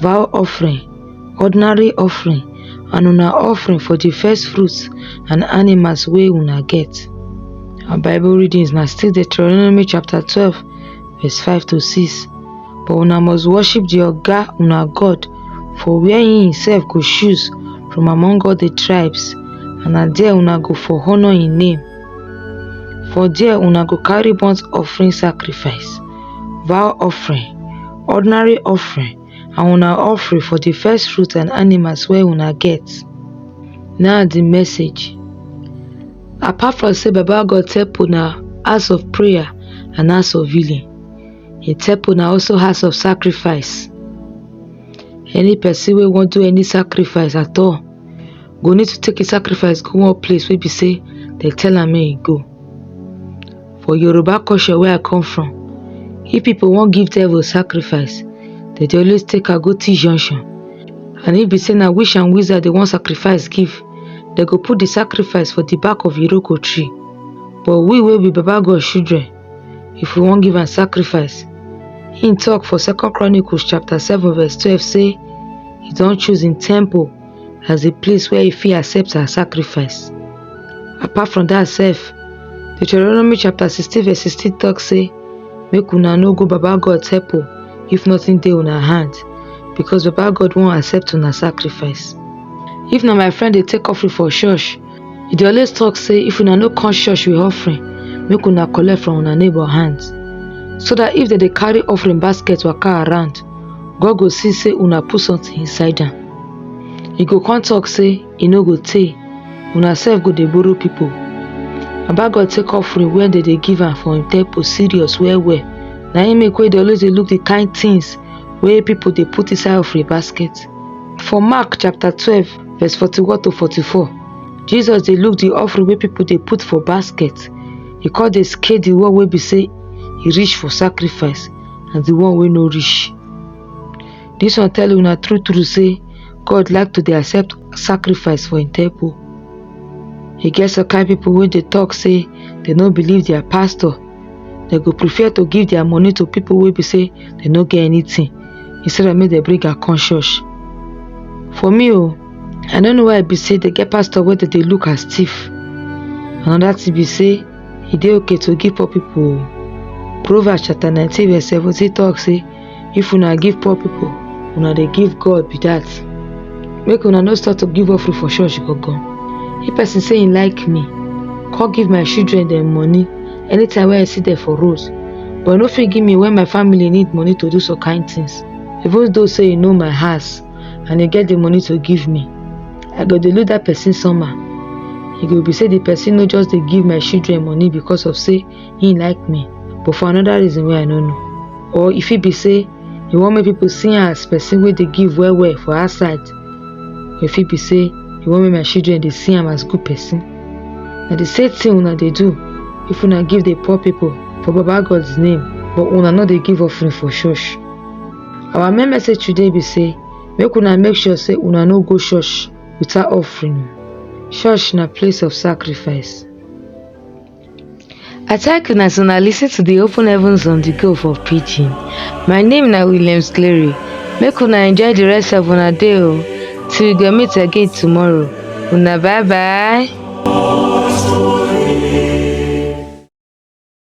vow offering ordinary offering and una offering for di first fruits and animals wey una get our bible readings na still Deuteronomy chapter twelve verse five to six but una must worship di oga una God for where he himself go choose from among all di tribes and na there una go for honour him name for there una go carry burnt offering sacrifice vow offering ordinary offering and una offering for the first fruit and animals wey una get na the message apart from say baba god tell una house of prayer and house of healing he tell una also house of sacrifice any person wey wan do any sacrifice at all go need to take his sacrifice go one place wey be say dem tell am make he go For Yoruba culture wey I come from, if pipu wan give devil sacrifice, dem dey always take am go T junction and if be sey na witch and wizard dem wan sacrifice give, dem go put de sacrifice for de back of Iroko tree. But we wey be Baba God children, if we wan give am sacrifice, im talk for second chronicles chapter seven verse twelve sey e don choose im temple as a place where he fit accept her sacrifice. Apart from that self, Deuteronomy chapter 16 verse 16 talks say, make una no go Baba God help if nothing dey una hand because Baba God won't accept una sacrifice. If not, my friend they take offering for church, He dey always talk say if una no come church with offering, make una collect from una neighbor hand. So that if dem dey carry offering basket waka around, God go see say una put something inside am. He go come talk say e no go tey, una sef go dey borrow people. Baba God take offering wey dem dey give am for im temple serious well well. Na im make wey dey always dey look the kind things wey people dey put inside offering basket. For Mark chapter twelve Verse 41 to 44. Jesus dey look the offering wey people dey put for basket. He come dey scale the one wey be say e reach for sacrifice and the one wey no reach. This one tell una true true say God like to dey accept sacrifice for im temple. E get some kind people wey dey talk say dem no believe their pastor dem go prefer to give their money to people wey be say dem no get anything instead of make dem bring am come church for me o oh, i no know why e be say dem get pastor wey dem dey look as thief another thing be say e dey okay to give poor people o oh. proverbs chapter nineteen verse seventeen talk say if una give poor people una dey give god be that make una no start to give offering for church gangan if person say he like me come give my children dem money anytime wey i see them for road but no fit give me when my family need money to do some kind things even though say you know my house and you get the money to give me i go dey look that person somehow e go be say the person no just dey give my children money because of say he like me but for another reason wey i no know or e fit be say he wan make people see am as person wey dey give well well for outside or e fit be say he wan make my children dey see am as good person na the same thing una dey do if una give the poor people for baba god's name but una no dey give offering for church our main message today be say make una make sure say una no go church without offering church na place of sacrifice I thank una as una listen to the Open Heavens on the Go for preaching. My name na Williams Clary. Make una enjoy the rest of una day o. Till we go meet again tomorrow. Una bye bye.